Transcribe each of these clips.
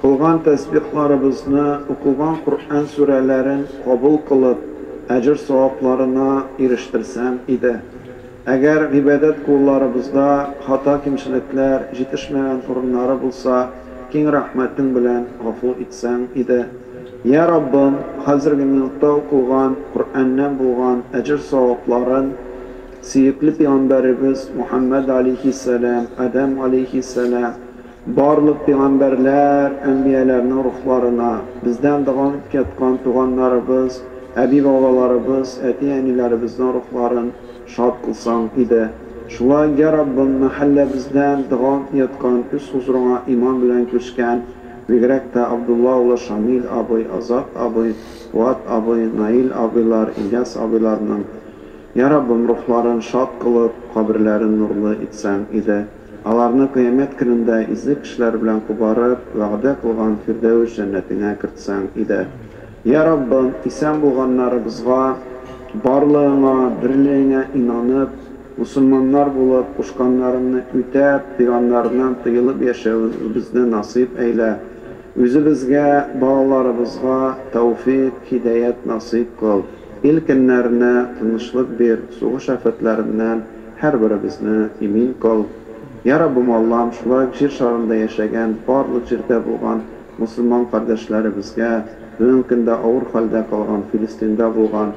Кылган тәсбихларыбызны, укыган Коръән сүрәләрен кабул кылып, әҗер-савапларына ирештерсәм иде. Әгәр гыйбадәт кулларыбызда хата-кимчелекләр, җитешмәгән урыннары булса, киң рәхмәтең белән гафу итсәң иде. Йә Раббым, хәзерге минутта укылган Коръәннән булган әҗер-савапларын сөекле пигамбәребез Мухәммәд галәйһиссәлам, Адәм галәйһиссәлам, Барлык пигамбәрләр, әнбияләрнең рухларына, бездән дәвам итеп яткан туганнарыбыз, әби-бабаларыбыз, әти-әниләребезнең рухларын шат кылсаң иде. Шулай, йә Раббым, мәхәлләбездән дәвам итеп яткан, үз хозурыңа иман белән күчкән, бигрәк тә Абдулла улы Шамил абый, Азат абый, Фуат абый, Наил абыйлар, Ильяс абыйларның, йә Раббым, рухларын шат кылып, каберләрен нурлы итсәң иде. Аларны Кыямәт көнендә изге кешеләр белән кубарып, вәгъдә кылган Фирдәвес җәннәтеңә кертсәң иде. Йә, Раббым, исән булганнарыбызга, барлыгыңа, берлегеңә инанып, мосылманнар булып, кушканнарыңны үтәп, пиганнарыңнан тыелып яшәвебезне насыйп әйлә. Үзебезгә, балаларыбызга тәүфыйк, һидәят насыйп кыл. Ил көннәренә тынычлык бир, сугыш афәтләреннән. Һәрберебезне имин кыл, Йа Раббым Аллам, шулай ук Җир шарында яшәгән барлык җирдә булган мосылман кардәшләребезгә, бүгенге көндә авыр хәлдә калган Филистинда булган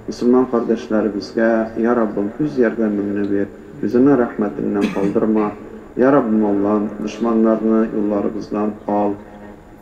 мосылман кардәшләребезгә, Йа Раббым, үз ярдәмеңне бир, үзеңнең рәхмәтеңнән калдырма, Йа Раббым Аллам, дошманнарны юлларыбыздан ал.